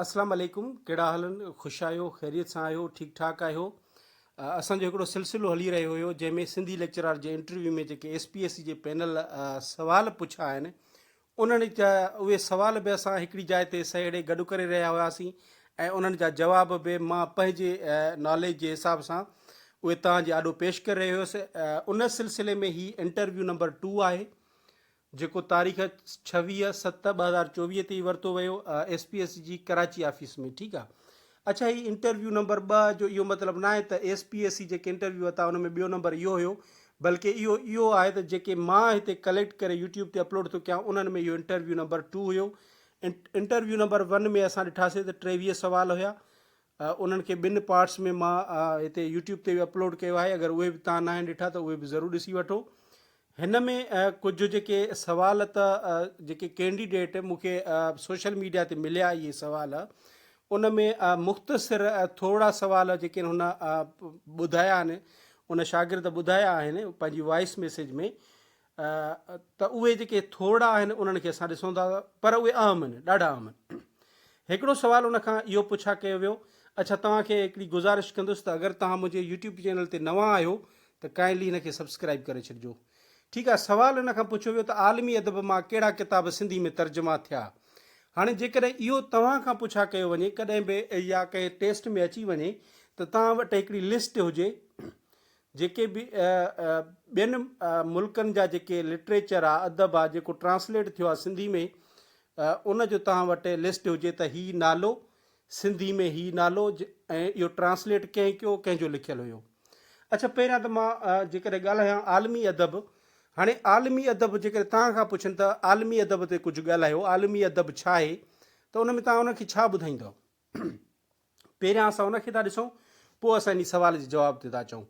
اسلام عليڪم ڪهڙا حال ان خوش آهيو خيريت سان آهيو ٺيڪ ٺاڪ آهيو اسان جو هڪڙو سلسلو هلي رهيو هيو جنهن ۾ سنڌي ليڪچرار جي انٽرويو ۾ جيڪي ايس پي ايس سي جي پينل سوال پڇا آهن انهن جا اهي سوال به اسان هڪڙي جاء تي سهيڙي گڏ ڪري رهيا هياسين ۽ انهن جا جواب به مان پنهنجي ناليج جي حساب سان اهي توهان جي آڏو پيش ڪري رهيو هيس ان سلسلي ۾ هي انٽرويو نمبر ٽو آهي جيڪو تاريخ ڇويهه ست ٻه هزار چوويهه تي ورتو ويو ايس پي ايس جي ڪراچي آفيس ۾ ٺيڪ آ اڇا هي انٽرويو نمبر ٻه جو اهو مطلب نه آهي ته ايس پي ايس سي جيڪي انٽرويو وتا ان ۾ ٻيو نمبر اهو هيو بلڪه اهو اهو آهي ته جيڪي مان هتي ڪليڪٽ ڪري يوٽيوب تي اپلوڊ ٿو ڪيان انهن ۾ اهو انٽرويو نمبر ٽو هيو انٽرويو نمبر ون ۾ اسان ڏٺاسين ته ٽيويهه سوال هيا انهن کي ٻن پارٽس ۾ مان هتي يوٽيوب تي به اپلوڊ ڪيو آهي اگر اهي به تان ناهن ڏٺا ته اهي به ضرور ڏسي وٺو هن ۾ ڪجهه جيڪي سوال ته جيڪي ڪينڊيڊيٽ مون کي سوشل ميڊيا تي مليا اهي سوال ان ۾ مختصر ٿورا سوال جيڪي هن ٻڌايا آهن ان شاگرد ٻڌايا آهن پنهنجي وائس ميسج ۾ ته اهي جيڪي ٿورڙا آهن انهن کي اسان ڏسون ٿا پر اهي اهم آهن ڏاڍا اهم آهن. هڪڙو سوال ان کان اهو پڇا ڪيو ويو اڇا توهان کي هڪڙي گذارش ڪندس ته اگر توهان منهنجي يوٽيوب چينل تي نوان آهيو ته ڪائنڊلي هن کي سبسڪرائيب ڪري ڇڏجو. ٺيڪ آهي سوال ان کان پڇيو ويو ته عالمي ادب مان ڪهڙا ڪتاب سنڌي ۾ ترجما ٿيا هاڻي جيڪڏهن اهو توهان کان پڇا ڪيو وڃي ڪڏهن به يا ڪنهن ٽيسٽ ۾ اچي وڃي ته توهان وٽ هڪڙي لسٽ هجي جيڪي به ٻين ملڪن جا جيڪي لٽريچر آ ادب آ جيڪو ٽرانسليٽ ٿيو آ سنڌي ۾ ان جو توهان وٽ لسٽ هجي ته هي نالو سنڌي ۾ هي نالو ۽ اهو ٽرانسليٽ ڪنهن ڪيو ڪنهن جو لکيل هيو اڇا پهريان ته مان جيڪڏهن ڳالهايان عالمي ادب هاڻي عالمي ادب جيڪڏهن توهان کان پڇن ته عالمي ادب تي ڪجهه ڳالهايو عالمي ادب ڇا آهي ته ان ۾ توهان ان کي ڇا ٻڌائيندؤ پهريان اسان ان کي ٿا ڏسون پوء اسان انهي سوال جي جواب تي ٿا اچون.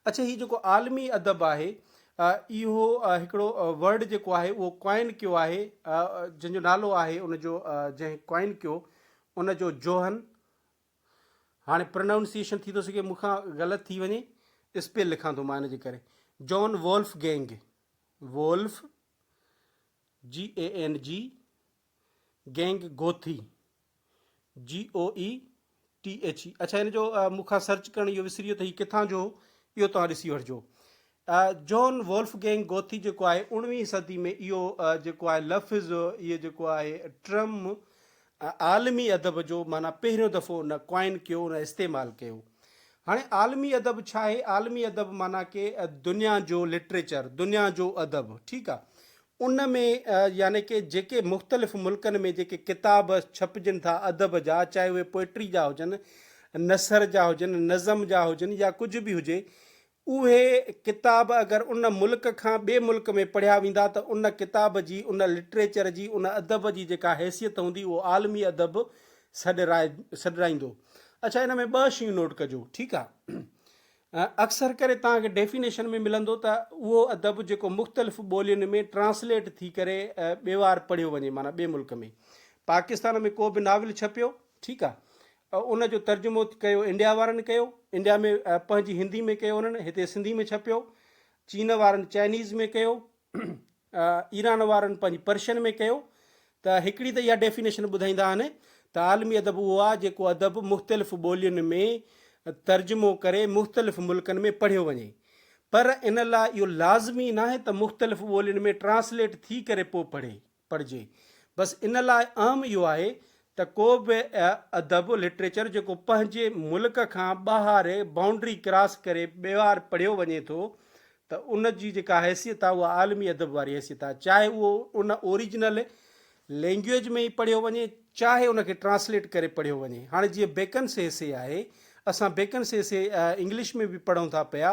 اڇي هي جيڪو عالمي ادب آهي اهو هڪڙو ورڊ جيڪو آهي اهو ڪوائن ڪيو آهي جنهن جو نالو آهي ان جو جنهن ڪوائن ڪيو ان جو جوهن هاڻي پرنائونسيشن ٿي ٿو سگهي مون کان غلط ٿي وڃي اسپيل لکان ٿو مان ان جي ڪري جون Wolfgang wolf G A N G gang Goethe, GOETHE، اڇا هن جو مون کان سرچ ڪرڻ اهو وسري ويو ته هي ڪٿان جو هو، اهو توهان ڏسي وٺجو. جون وولف گينگ گوٿي جيڪو آهي اوڻويهين صدي ۾ اهو جيڪو آهي لفظ اهو جيڪو آهي ٽرم عالمي ادب جو معنيٰ پهريون دفعو ان ڪوائن ڪيو ان استعمال ڪيو. هاڻي عالمي ادب ڇا آهي؟ عالمي ادب معنيٰ ڪي دنيا جو لٽريچر دنيا جو ادب ٺيڪ آهي ان ۾ يعني ڪي جيڪي مختلف ملڪن ۾ جيڪي ڪتاب ڇپجن ٿا ادب جا چاهي اهي پوئٽري جا هجن، نثر جا هجن، نظم جا هجن يا ڪجهه به هجي اهي ڪتاب اگر ان ملڪ کان ٻئي ملڪ ۾ پڙهيا ويندا ته ان ڪتاب جي ان لٽريچر جي ان ادب جي جيڪا حيثيت هوندي اهو عالمي ادب سڏرائي سڏرائيندو. اڇا ان ۾ ٻه شيون نوٽ ڪجو ٺيڪ آ. اڪثر ڪري توهان کي ڊيفينيشن ۾ ملندو ته اهو ادب جيڪو مختلف ٻولين ۾ ٽرانسليٽ ٿي ڪري ٻي وار پڙهيو وڃي معنيٰ ٻي ملڪ ۾ پاڪستان ۾ ڪو به ناول ڇپيو ٺيڪ آ ان جو ترجمو ڪيو انڊيا وارن ڪيو انڊيا ۾ پنهنجي هندي ۾ ڪيو انهن هتي سنڌي ۾ ڇپيو چين وارن چائنيز ۾ ڪيو ايران وارن پنهنجي پرشن ۾ ڪيو ته هڪڙي ته اها ڊيفينيشن ٻڌائيندا آهن ته عالمي ادب اهو آهي جيڪو ادب مختلف ٻولين ۾ ترجمو ڪري مختلف ملڪن ۾ پڙهيو وڃي پر ان لاء اهو لازمي ناهي ته مختلف ٻولين ۾ ٽرانسليٽ ٿي ڪري پوء پڙهي پڙهجي. بس ان لاء اهم اهو آهي ته ڪو به ادب، لٽريچر، جيڪو پنهنجي ملڪ کان ٻاهر بائونڊري ڪراس ڪري ٻيهر پڙهيو وڃي ٿو ته ان جي جيڪا حيثيت آهي اها عالمي ادب واري حيثيت آهي چاهي اهو ان اوريجنل لينگويج ۾ ئي پڙهيو وڃي چاهي ان کي ٽرانسليٽ ڪري پڙهيو وڃي. هاڻي جيئن بيڪنس ايسي آهي، اسان بيڪنس ايسي انگلش ۾ به پڙهون ٿا پيا،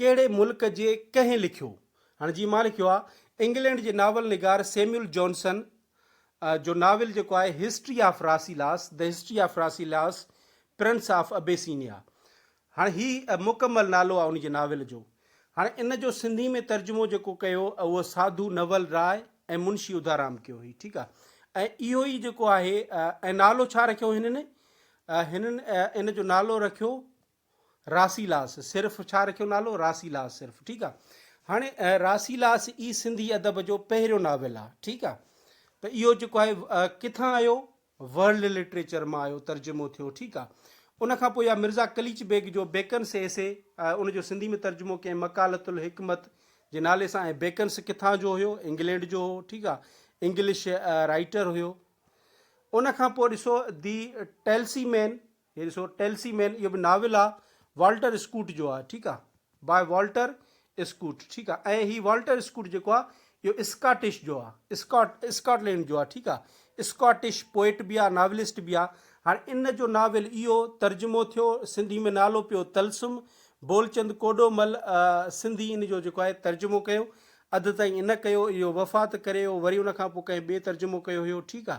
ڪهڙي ملڪ جي ڪنهن لکيو؟ هاڻي جي مان لکيو آ انگلينڊ جي ناول نگار سيميول جانسن جو ناول جيڪو آهي history of Rasselas, The History of Rasselas، prince of Abyssinia. هاڻي هي مڪمل نالو آ ان جي ناول جو. هاڻي ان جو سنڌي ۾ ترجمو جيڪو ڪيو اهو ساڌو نول راء ۽ منشي اڌارام ڪيو هي ٺيڪ آ ۽ اهو ئي جيڪو آهي ۽ نالو ڇا رکيو هنن هنن ان جو نالو رکيو راسيلاس صرف ڇا رکيو نالو راسيلاس صرف ٺيڪ آ هاڻي راسيلاس ئي سنڌي ادب جو پهريون ناول آ ٺيڪ آ ته اهو جيڪو آهي ڪٿان آيو ورلڊ لٽريچر مان آيو ترجمو ٿيو ٺيڪ آ ان کان پوء يا مرزا قليچ بيگ جو بيڪن سي سي ان جو سنڌي ۾ ترجمو ڪئين مقالت الحڪمت جي نالي سان ۽ بيڪنس ڪٿان جو هيو انگلينڊ جو هو ٺيڪ آ انگلش رائيٽر هيو ان کان پوء ڏسو دي ٽيلسي مين هي ڏسو ٽيلسي مين اهو به ناول آ والٽر اسڪوٽ جو آ ٺيڪ آ باء والٽر اسڪوٽ ٺيڪ آ ۽ هي والٽر اسڪوٽ جيڪو آ اهو اسڪاٽش جو آ اسڪاٽ اسڪاٽلينڊ جو آ ٺيڪ آ اسڪاٽش پوئٽ به آ ناولسٽ به آ هاڻي ان جو ناول اهو ترجمو ٿيو سنڌي ۾ نالو پيو تلسم بولچند ڪوڏو مل سنڌي ان جو جيڪو آهي ترجمو ڪيو اڌ تائين ان ڪيو اهو وفات ڪري ويو وري ان کان پوء ڪنهن ٻئي ترجمو ڪيو هيو ٺيڪ آ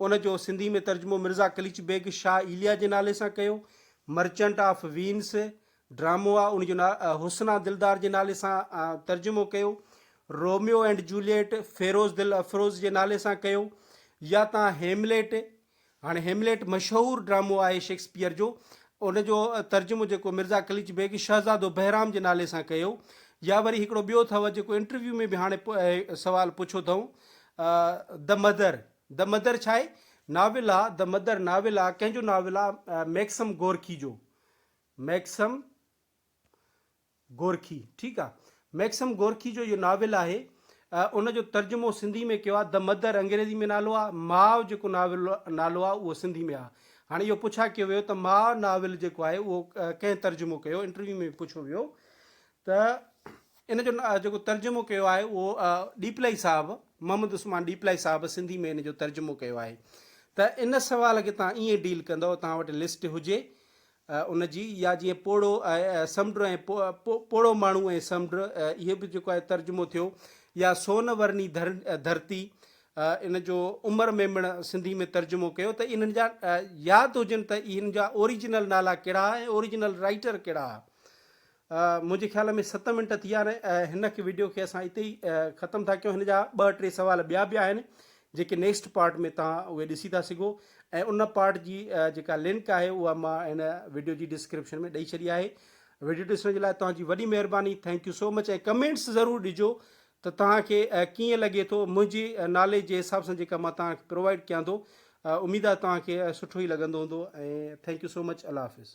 ان جو سنڌي ۾ ترجمو مرزا قليچ بيگ شاهه ايليا جي نالي سان ڪيو. مرچنٽ آف وينس ڊرامو آ ان جو حسنا دلدار جي نالي سان ترجمو ڪيو. روميو اينڊ جوليٽ فيروز دل افروز جي نالي سان ڪيو. يا تان هيمليٽ هاڻي هيمليٽ مشهور ڊرامو آهي شيڪسپيئر جو ان جو ترجمو جيڪو مرزا قليچ بيگ شهزادو بهرام جي نالي سان ڪيو. يا وري هڪڙو ٻيو اٿئو جيڪو انٽرويو ۾ به هاڻي سوال پڇيو اٿئون The Mother The Mother ڇاهي ناول آ؟ The Mother ناول آ، ڪنهن جو ناول آ؟ ميڪسم گورڪي جو، ميڪسم گورڪي، ٺيڪ آ، ميڪسم گورڪي جو اهو ناول آهي، ان جو ترجمو سنڌي ۾ ڪيو آ، The Mother انگريزي ۾ نالو آ، ماء جيڪو ناول نالو آ اهو سنڌي ۾ آ، هاڻي اهو پڇا ڪيو ويو ته ماء ناول جيڪو آهي اهو ڪنهن ترجمو ڪيو؟ انٽرويو ۾ پڇيو ويو ته ان جو جيڪو ترجمو ڪيو آهي اهو ڏيپلائي صاحب محمد عثمان ڏيپلائي صاحب سنڌي ۾ ان جو ترجمو ڪيو آهي ته ان سوال کي تان ائين ڊيل ڪندئو تان وٽ لسٽ هجي ان جي يا جيئن پوڙهو سمنڊ ۽ پوڙهو ماڻهو ۽ سمنڊ اهي به جيڪو آهي ترجمو ٿيو يا سون ورني ڌرتي ان جو عمر ميمڻ سنڌي ۾ ترجمو ڪيو ته انهن جا ياد هجن ته انهن جا اوريجنل نالا ڪهڙا ۽ اوريجنل رائيٽر ڪهڙا منهنجي خيال ۾ ست منٽ ٿي ويا آهن ۽ هن وڊيو کي اسان اتي ئي ختم ٿا ڪيون هن جا ٻه ٽي سوال ٻيا به آهن جيڪي نيڪسٽ پارٽ ۾ توهان اهي ڏسي ٿا سگهو ۽ ان پارٽ جي جيڪا لنڪ آهي اها مان هن وڊيو جي ڊسڪرپشن ۾ ڏئي ڇڏي آهي وڊيو ڏسڻ جي لاء توهان جي وڏي مهرباني thank you so much ۽ comments ضرور ڏجو ته توهان کي ڪيئن لڳي ٿو منهنجي ناليج جي حساب سان جيڪا مان توهان کي پرووائڊ ڪيان ٿو اميد آهي توهان کي سٺو ئي لڳندو هوندو ۽ ٿينڪ يو سو مچ الله حافظ